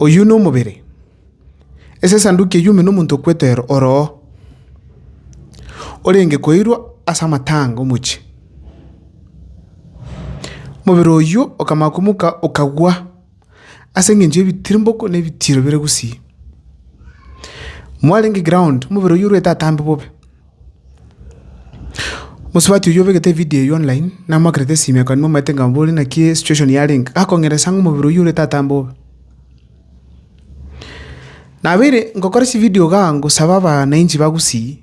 Oyio nomobere. Ase esanduki eyio ime nomonto o Petero oroo, orenge koirwa ase amatanga omochie. Omobere oyio okamanya komoka okagwa. ase engencho y'ebitirimboko na ebitiiro bire gusii. Mwarenge eground, omobere oyio orwete atambe bobe. Mosubati oyio obegete evidio eyio online, namoakerete esimi ekanwa omanyete ng'a mbore naki esituation yarenge, akong'eresa ng'a omobere oyio orwete atambe bobe. Nabeire ngokora chividio igaa ngosaba abanainchi ba gusii,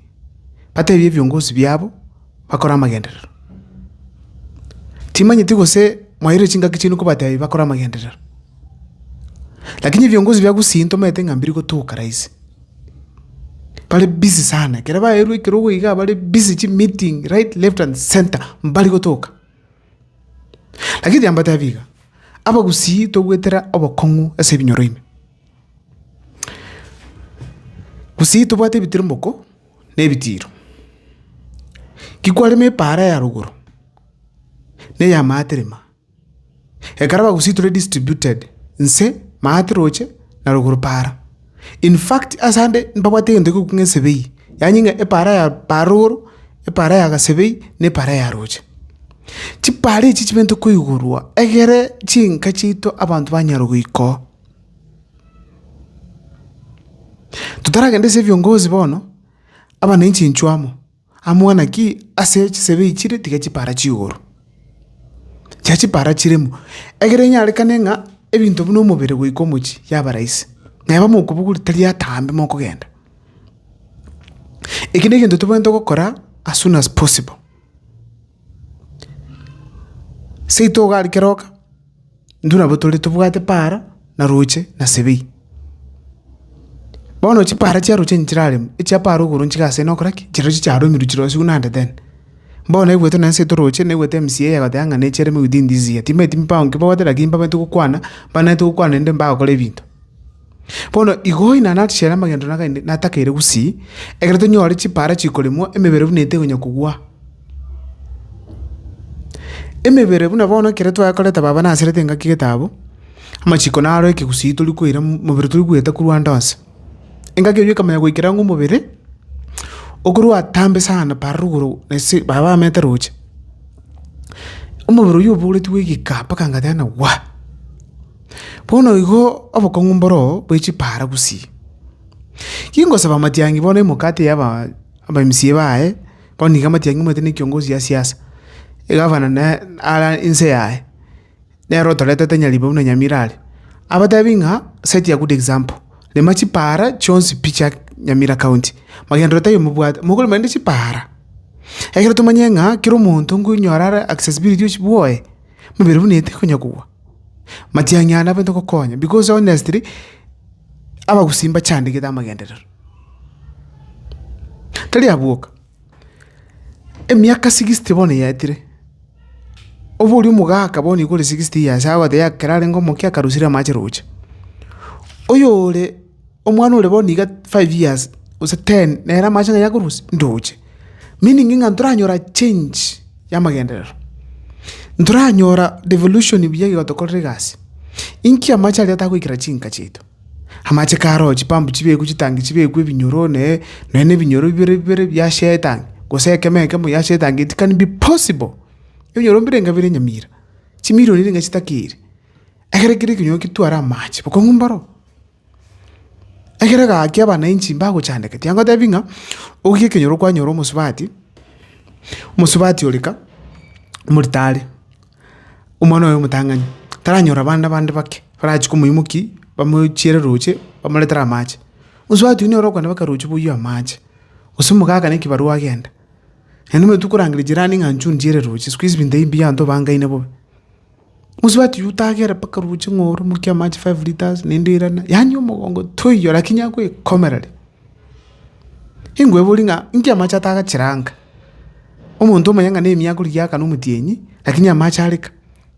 batebie ebiongozi biabo. bakore amagenderero. Timanyeti gose mwairire chingaki chiaino kobatebi bakore amagenderero. Lakini ebiongozi bia Gusii ntomanyete ng'a mbiri gotoka rahisi. Bare busy sana, ekero baeirwe ekerogo igaa bare busy chimeeting right, left and centre mbari gotoka. Lakini tiga mbatebi iga, Abagusii togwetera obokong'u ase ebinyoro ime. Gusii tobwate ebitiriboko. na ebitiiro. Ki kwarema epaara ya rogoro na eya maatirima, ekero abagusii tore distributed nse maate roche na rogoro paara. In fact ase ande mbabwate egento ekogokwa ng'a esebei, yaani ng'a epaara ya paara rogoro, epaara ya gasebei, na epaara ya roche. Chipaara echi chibente koigurwa egere chinka chiaito abanto banyare goikoo. Totaragende ase ebiongozi bono, aba ne enchencho amo, amang'ana naki ase chisebe echi chire tiga chipara chigoro. Tiga chipara chiremo, egere enyarekane ng'a ebinto buna omobere goika omochie yaba rahisi. Neba mokobuguri tari atambe mokogenda. Eki na egento tobwenerete gokora as soon as possible. Seito iga rikeroka. Intwe nabwo tore tobwate paara na roche na sebei. Bono chipaara chia roche nchiraremwe, echia paara igoro nchiga ase ene okora ki? Chirochio chiaremirwe chirosie buna ande then. Bono naigwete na enseto roche, naigwete MC eye agoteba ng'a nechiaremwe within this year. Timanyeti mbago inki babwate lakini mbabete gokwana, mbanerete gokwana naende mbagokora ebinto. Bono igo Oinana atichere amagendo nagaende natakeire gusii, ekero tonyore chipaara chikoremwa, emebere buna ete ekonya kogwa. Emebere buna bono ekero twaya koreta baba naserete engaki getaabo, amachiko naro ekegusii tori koira mo- mobere tori goeta korwa ande onsi. Engaki eyio ekamanya goikera ang'e omobere, okorwa atambe sana para rogoro ase baba bamete roche, omobere oyio oboretigwe egeka mpaka ngateba ng'a waa. Bono igo obokong'u mboro bwe chipaara gusii. Kingosaba amatiangi bono emekate y'abamisie baye, bono nigo amatiangi omanyete na ekiongozi ya siasa, egavana na ara inse yaye, nere otorete tari nyaribo buna Nyamira are. Abatebi ng'a set a good example, rema chipaara chionsi pi chia Nyamira county, magendereo tari omobwate, mokorema rende chipaara, ekero tomanye ng'a kera omonto nkonyora are accessibility o chibwoye. mobere buna eete konya kogwa. Matiang'i aya nabaete gokonya, because honestly, abagusii mbachandegete amagenderero. Tari abwo oka, emiaka sixty bono yaetire, obe oria omogaka bono iga ore sixty years, agoteba ekero arenge omoke akarusire amache roche. Oyore. Omwana ore bo niga five years, gose ten, nere amache ng'a yakorusia, ndoche. Meaning ng'a ntoranyora change y'amagenderero. Ntoranyora devolution buya igo tokorire egasi. Inki amache aria atagoikera chinka chiaito? Amache karo chipambu chibekwe chitangi chibekwe ebinyoro ne, nonya na ebinyoro bibere bibere biachia etangi, gose ekemo ekemo yachia etangi, it can be possible. Ebinyoro mbire inga bire nyamira, chimirioni niga chitakeire. Ekero kere ekenyoro ketware amache, bokong'u mboro. Ekero egaki abananchi mbagochandeka, tiagotebi ng'a ogie ekenyoro kwanyora omosubati, omosubati ore ka, omori tare, omwana oye omotang'ani, taranyora bana bande bake, barachie komoimoki, bamochiere roche, bamoretere amache. Mosubati oyio nere okogenda baka roche boyio amache, gose omogaka na ekebarua agenda. Naende omanyete okorangeria jirani ng'a inchuo nchiere roche, sikuizi binto ebi mbianto bangaine bobe. Mosubati oyio otagera mpaka roche ng'a oromokie amache five litres naende oirana, yaani omogongo toiyo lakini agoekomerere. Inkwebori ng'a inki amache ataga chiranka? Omonto omanye ng'a na emiaka rigia aakana omotienyi lakini amache areka.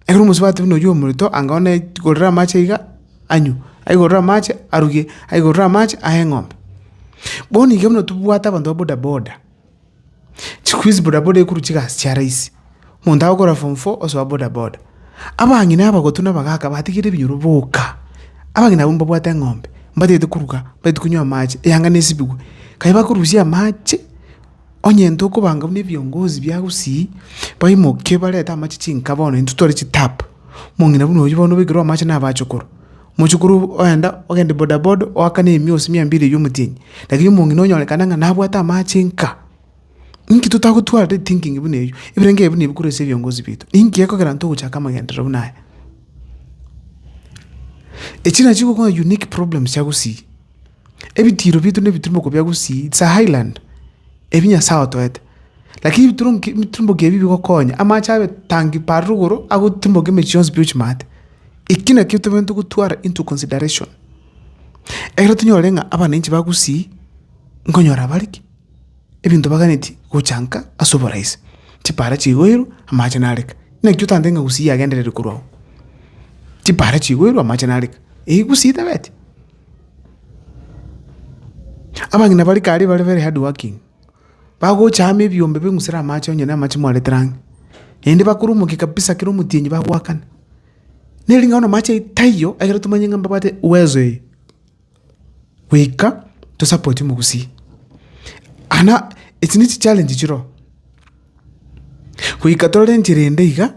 Ekero omosubati buna oyio omoreto anga one aigorere amache iga anywe, aigorere amache aruge, aigorere amache aye eng'ombe. Bono iga buna tobwate abanto ba bodaboda. Chikuizi bodaboda ekorwa chigasi chia rahisi, omonto agokora form four osoa bodaboda. Abang'ina abagotu na abagaka batigire ebinyoro boka, abang'ina abwo mbabwate eng'ombe, mbatagete koruga, mbatagete konywa amache, eyanga nesibigwe. Kaye bakorusia amache, onye nto okobanga buna ebiongozi bia Gusii, baimoke barete amache chinka bono intwe tware chitap, omong'ina buna oyio bono obekerwe amache nabache okorwa. Mochokoro ogenda, ogende bodaboda oakane emiosi mia mbili eywo omotini, lakini omong'ina onyorekane ng'a nabwate amache nka. Inki totagotwara ri thinking buna eywo? Ebirengererio ebio nabi korwa ase ebiongozi biaito. Ninki gekogera intwe gochaka amagenderero buna aya? Echi nachi chigokogera unique problems chia gusii. Ebitiiro biaito na ebitirimoko bia gusii, it's a highland, ebi Nyasaye otoete. Lakini ebiturunki ebiturumboki ebi bigokonya, amache abe tangi pa rogoro agoturumboka emechie yonsi pi ochimate. Eki nakio tobwenerete gotwara into consideration, ekero tonyore ng'a abananchi ba Gusii nkonyora bare ki? Ebinto baganeti gochanka ase oborahisi. Chipara chigoirwe, amache nare ka. Nakio otantebeti ng'a Gusii yagenderire korwa oo. Chipara chigoirwe amache nare ka. Eyi Gusii tebeti? Abang'ina bare kare bare very hardworking. bagocha amo ebiombe beng'usere amache onye namache mwaretire ang'e, naende bakoromokia kabisa kera omotienyi bagoakana. Neri ng'a bono amache aye taiyo ekero tomanyeti ng'a mbabwate uwezo eye, goika tosapotie omogusii. Ana echi ne chichallenge chire oo, goika torore enchera ende iga.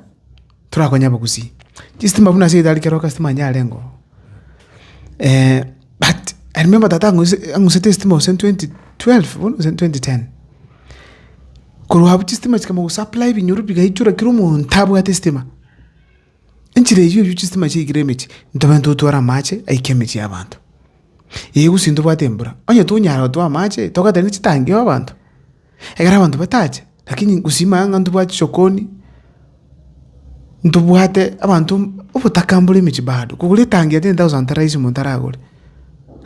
torakonya bogusii. Chistima buna ase edari kero kastima onye arengeo but I remember tata ang'use ang'usete estima gose twenty twelve bono gose twenty ten. Korwa abwo chistima chikama gosupply ebinyoro bigaichora kera omonto abwate estima. Enchera eywo eywo chistima chiaikire emechie, ntobe ntotware amache aike emechie ya abanto. Eeh gose ntobwate embura, onye tonyara gotwaa amache togatera chitangi abanto. Ekero abanto batacha, lakini gosima ang'e ntobwati sokoni, ntobwate abanto obotakambore emechie bado, kogora etangi ya ten thousand teraisi omonto aragore,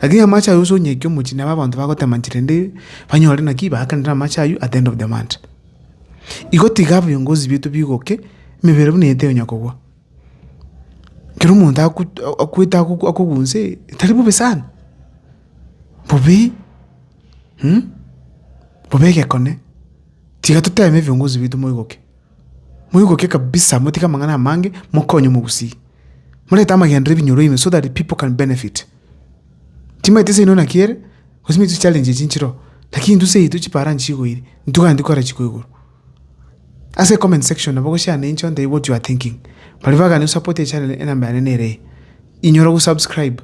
lakini amache aywo gose onyekie omochie nabo abanto bagotema nchera ende banyore naki baakanere amache aywo at the end of the month. Igo tiga ebiongozi bito bigoke, emebere buna ete onya kogwa. Kero omonto akwete akogusa ee, tari bobe sana, bobe. Bobe egekone, tiga toteeme ebiongozi biaito moigoke. Moigoke kabisa, motige amang'ana amange, mokonye omogusii. Morete amagenderero ebinyoro ime so that the people can benefit. Timaeti nse ino naki ere, gose nigo chichallenge echi nchire oo, lakini intwe nse yaito chiparaani chigoiri, intwe gani tikogera chiko igoro. Ase comment section nabo goshare nincho ntebie what you are thinking. Baria bagani gosapota echannel enamba yane nere eye. Inyora gosubscribe.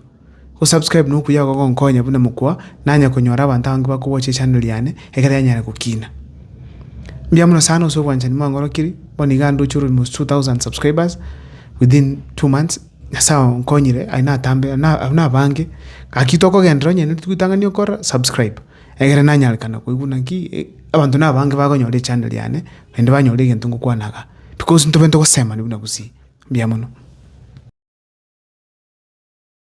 Gosubscribe nokuya igo gogonkonya buna mokwa nanye konyora abanto abange bakowochia echannel yane ekero yanyare gokina. Mbuya mono sana ase obwanchani mwangorokirie. Bono iga ndoche almost two thousand subscribers within two months. Nyasaye onkonyire aye natambe abwo nabange. Gaki tokogenderera onye nere titwitang'ani okorora subscribe. egere nanyarekana koigwa naki abanto nabange bakonyora echanda riane, naende banyore egento ngokwana iga, because ntobe ntogosemani buna gusii. Mbuya mono.